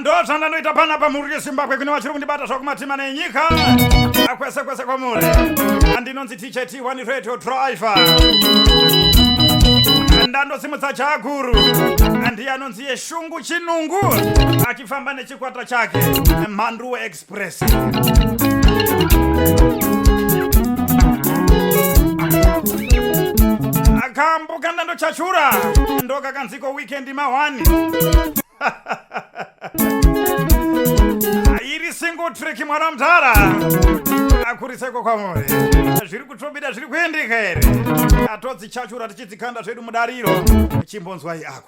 ndozvandanoita pana pamhuri yezimbabwe kune vachiri kundibata zvakumatima nenyika akwese kwese kwamuri andinonzi tchet one radio driver ndandosimudza chaguru andiye anonzi yeshungu chinungu achifamba nechikwata chake mhanduwe express akambo kandando chachura ndokakanziko weekend mahwani iri single trick mwana mudhara akuriseko kwamuri zviri kutobida zviri kuendeka here atodzichachura tichidzikanda zvedu mudariro chimbonzwai ako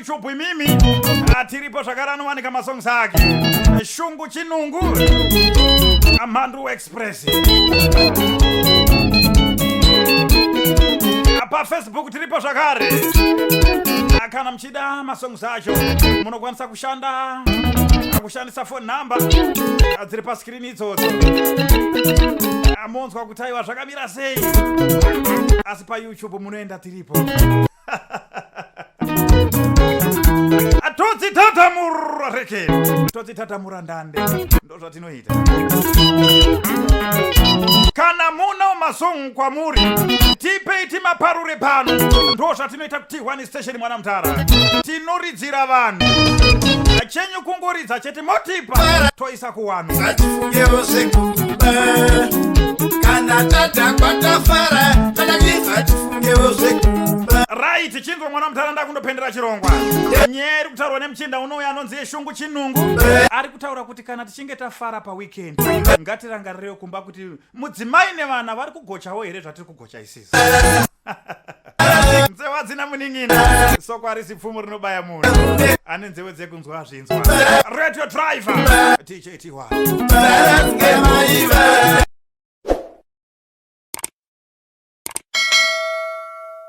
chubhu imimi atiripo zvakare anowanika masongs ake shungu chinungu amhandu express pafacebook tiripo zvakare kana muchida masongs acho munokwanisa kushanda kushandisa phone number dziri paskirini idzodzo amonzwa kutaiwa zvakamira sei asi payoutube munoenda tiripo todzitatamura reke todzitatamura ndande ndozvatinoita kana munawo masong kwamuri tipei timaparure pano ndo zvatinoita kuti one station mwana mutara tinoridzira vanhu achenyu kungoridza chete motipa toisa kuwano ngatifungewo zvekuba kana tadhakwa tafara kana tifa tifungewo zvekuba right chinzwa mwana mutara ndakundopendera chirongwa nyaya iri kutaurwa nemuchinda unouya anonzi yeshungu chinungu ari kutaura kuti kana tichinge tafara paweekend ngatirangarirewo kumba kuti mudzimai nevana vari kugochawo here zvatiri kugocha isisi nzewe hadzina munin'ina soko harisi pfumo rinobaya munhu ane nzewe dzekunzwa zvinzwa radio driver tjty